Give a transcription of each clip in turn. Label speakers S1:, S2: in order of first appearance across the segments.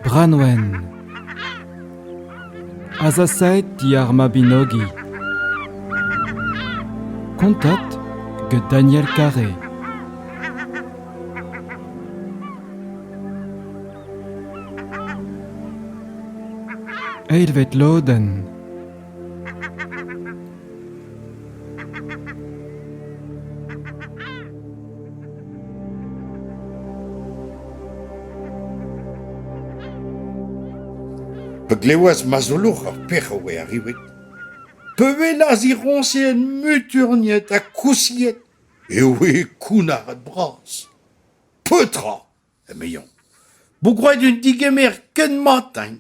S1: Branwen Azasaet diar Mabinogi Kontat get Daniel Carré Eidvet lodenn
S2: Pa glevas Mazolour ur pec'h o vezañ arriuet, pa welas he roñseen muturniet ha kousiet, e oe kounnaret bras. Petra ? emezañ. vo gwraet un digemer ken mat-eñ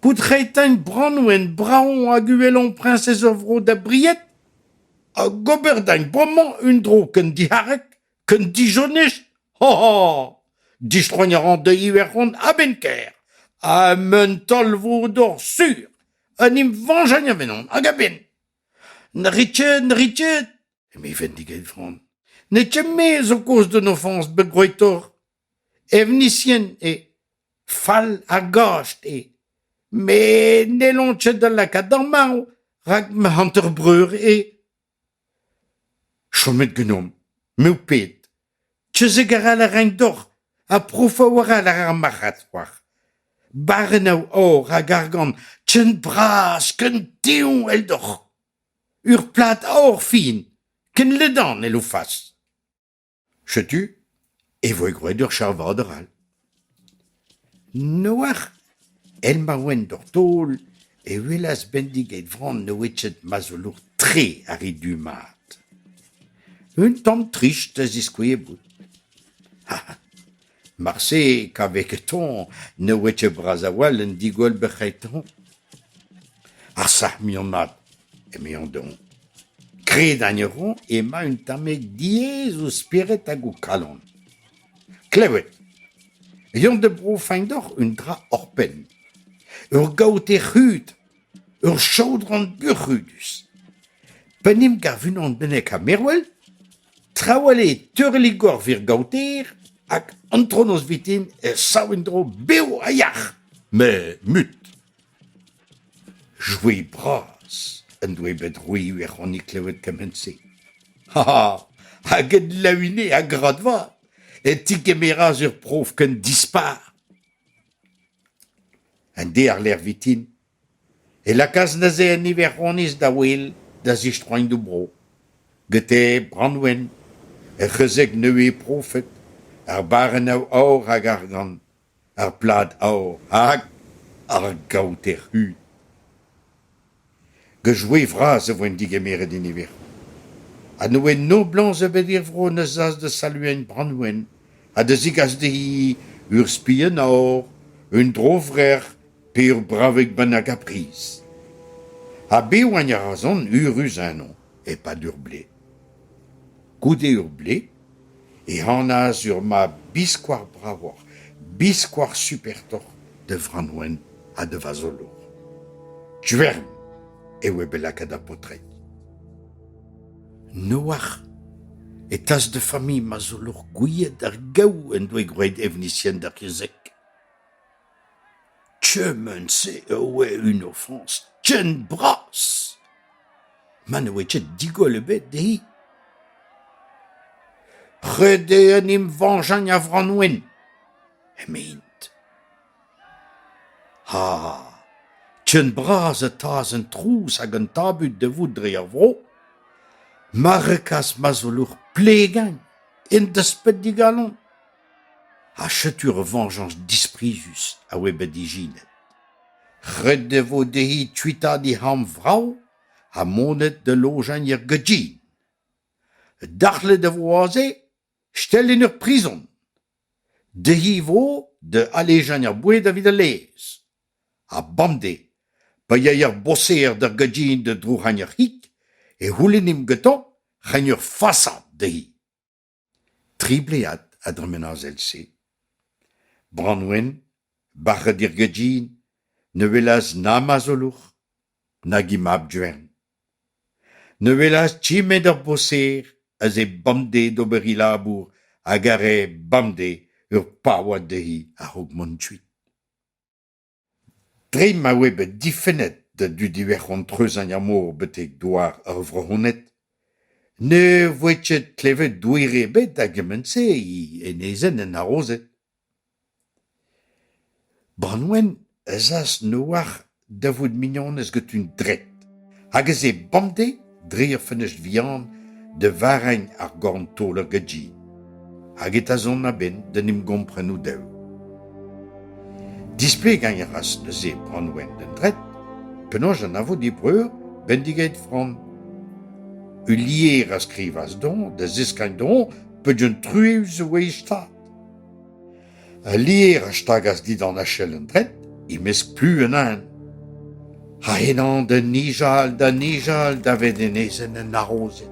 S2: bout reiñ-teñ branwenn brav hag uhelañ priñsez ur vro da bried hag ober deñ bremañ un dro ken diharek ken dijonez ho ho distroiñ a ran da Iwerzhon a-benn kaer ha un taol-vor-dor sur en em vañjañ a-benn hag a-benn. Ne rit ket, ne rit ket eme Vendigeitron. N'eo ket me zo kozh d'un ofañs bet gwretoc'h. Evnisien eo. Fall ha gast eo. Met n'hellont ket da lakaat d'ar marv, rak ma hanter-breur eo. Chomet genomp. Me ho ped. Tezek a ra da renk doc'h, ha profañ war all ar marc'had c'hoar. Barrennoù or hag argant, ken bras, ken tev eldoc'h. Ur plad aour fin ken ledan e loufas. Setu e voe gwraet ur charvador all. N'oar èl ma oent oc'h taol e welas Bendigeit Vran o wechet ma zolour-tre ar re du-mat. Un tamm trist a ziskouie bout. Marse, kaveket-hoñ ne oe ket bras a-walc'h en digoll-berc'hetañ. Ar sac'h-mignonad, emezañ dezhoñ, kredañ a roñ ema un tammig diaes o spered hag o kalon. Klevet eo da brofañ deoc'h un dra oc'hpenn. Ur gaoter-c'hud. Ur chaodron buoc'hudus. Pa en em gav unan bennak ha mervel, trawal eo teurellig gorvir gaoter hag antronoz viken e sav en-dro bev ha yac'h. Met mut. Joue bras en doe bet roeoù er c'hannig klevet kement-se. Ha hag en laouine a grad vat e tigemeras ur prof ken dispar. Un dearlec'h vintin e lakaas neuze an Iwerzhoniz da wel da zistroiñ d'o bro. Gete Branwen, ur c'hezeg nevez profet, ar barrennoù aour hag argant, ar plad aour hag ar gaoter-hu. Gant joe vras e voen degemeret e niveroù. Ha ne oa noblañs ebet er vro na z'as da saluañ Branwen ha da zegas dezhi ur spi en aour, un dro-vrec'h pe ur bravig bennak a briz. Ha bevañ a razont, eürus eno, e-pad ur blez. Goude ur blez ehanaz ur mab biskoazh bravoc'h, biskoazh supertoc'h da Framwen ha da vazolour. Gwern eo eo bet lakaet ar paotred. Noac'h e tas da familh mazolour gouiet ar gaou en doa gwraet evnisien d'ar yezhek. Kement-se a oa un ofrañs ken bras ma ne oa ket digoll ebet dezhi. Ret eo en em veñjañ a Vranwen, eme-int. Ha ken bras e taas an trouz hag an tabut da vout dre ar vro ma rekas ma zoleur Plegagn en desped d'e galon. Ha setu ur vañjañs disprizus a oa bet ijinet. Ret e vo dezhi tuitaat he c'hambr vrav ha monet da lojañ er Gaudine. Dac'hlet e vo aze stellin ur prizon. Dezhi vo da alejañ er boued evit al laezh. Ha bemdez, pa yay ar boser d'ar Gaudine da drouk'hañ ar c'hig, e c'houlennimp gantañ reiñ ur fasad dezhi. Triplead a dremen ar sell-se. Branwen, bac'het er gerdin, ne welas na marzolour nag he mab-gwenn. Ne welas chemet ur boser eus he bemdez d'ober he labour hag a rae bemdez ur paouad dezhi a-raok mont kuit. Dre ma oe bet difennet da dud iwerzhon treuzhañ ar mor betek douar ar Vro-Honed ne voe ket klevet douer ebet da gement-se en ezen en harozed. Branwen ez as Noac'h da vout mignonez get un dred hag ez eo bemdez dre ur fenestr vihan da varregn ar gorn-taol ur gaji hag e tazont a-benn d'en em gompren o-dev. Displegañ a ras neuze Branwen d'an dret penaos anavo d'e breur bendigeit Fran. Ulier a skrivas don da zeskagn don peogwir truez e voe e stad. Al lêr a stagas dindan achel an dret e-mesk plu un neñv. Ha henañ da nijal, da nijal davet enezenn an harozed.